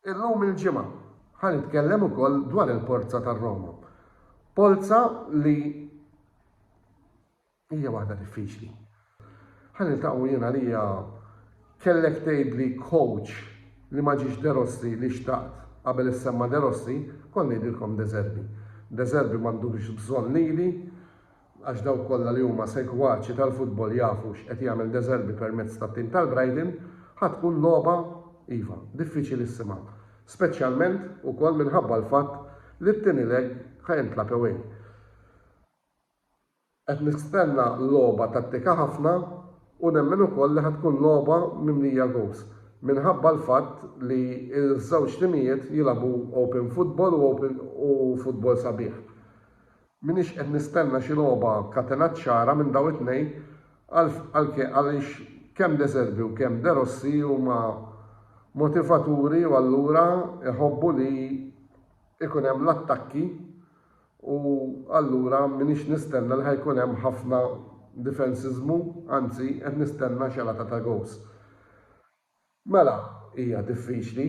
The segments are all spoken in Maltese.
Illum il-Ġimgħa ħa nitkellem ukoll dwar il-Porza tar-Roma. Polza li hija waħda diffiċli. Ħa niltaqgħu jien għalija kellek tgħidli coach li ma ġiex De Rossi li xtaqt qabel issemma De Rossi, kont ngħidilkom De Zerbi. De Zerbi m'għandux bżonn lili, għax dawk kollha li huma segwaċi tal-futbol jafu x'qed jagħmel De Zerbi permezz tat-tim tal-Brighton, ħa tkun logħba, iva, diffiċilissima, speċjalment ukoll minħabba l-fatt li t-tieni leg ħa jintlagħab away. Qed nistenna logħba tattika ħafna u nemmen ukoll li ħa tkun logħba mimlija goals, minħabba l-fatt li ż-żewġ timijiet jilagħbu open football u futbol sabiħ. M'iniex qed nistenna xi logħba katenat ċara minn dawn it-tnejn għaliex kemm De Zerbi u kemm De Rossi huma motivaturi u allura jħobbu li jkun hemm l-attakki u allura m'iniex nistenna li ħa jkun hemm ħafna difensiżmu, anzi qed nistenna xelata ta' goals. Mela, hija diffiċli,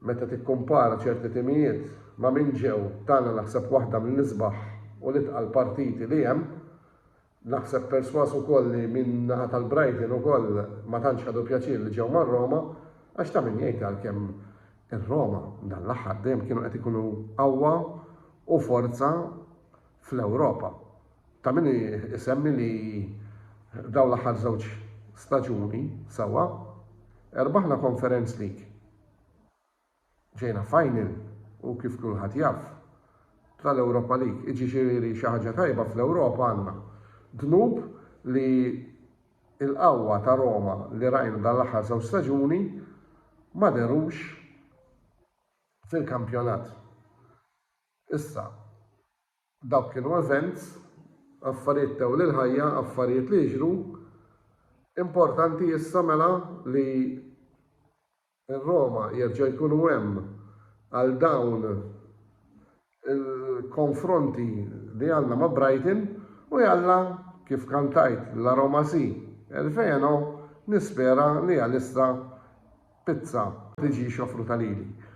meta tikkumpara ċerti timijiet ma' min ġew, tagħna naħseb waħda mill-isbaħ u l-itqal partiti li hemm. Naħseb persważ ukoll li min-naħa tal-Brighton ukoll ma tantx ħadu pjaċir li ġew mar-Roma, għax ta' min jgħid għalkemm ir-Roma dan l-aħħar dejjem kienu qed ikunu qawwa u forza fl-Ewropa. Ta' min isemmi li dawn l-aħħar żewġ staġuni sewwa erbaħna Conference League, ġejna final u kif kulħadd jaf, tal-Europa League, iġixieri xi ħaġa tajba fl-Ewropa għandna. Dnub li l-qawwa ta' Roma li rajna dan l-aħħar żewġ staġuni ma dehrux fil-kampjonat. Issa, Dawk kienu events, affarijiet tew lil ħajja, affarijiet li jiġru. Importanti issa mela li r-Roma jerġgħu jkunu hemm għal dawn il-konfronti li għandna ma' Brighton u jalla kif kantajt La Roma Si, El Feno nispera li għalissa pizza tiġix offruta lili.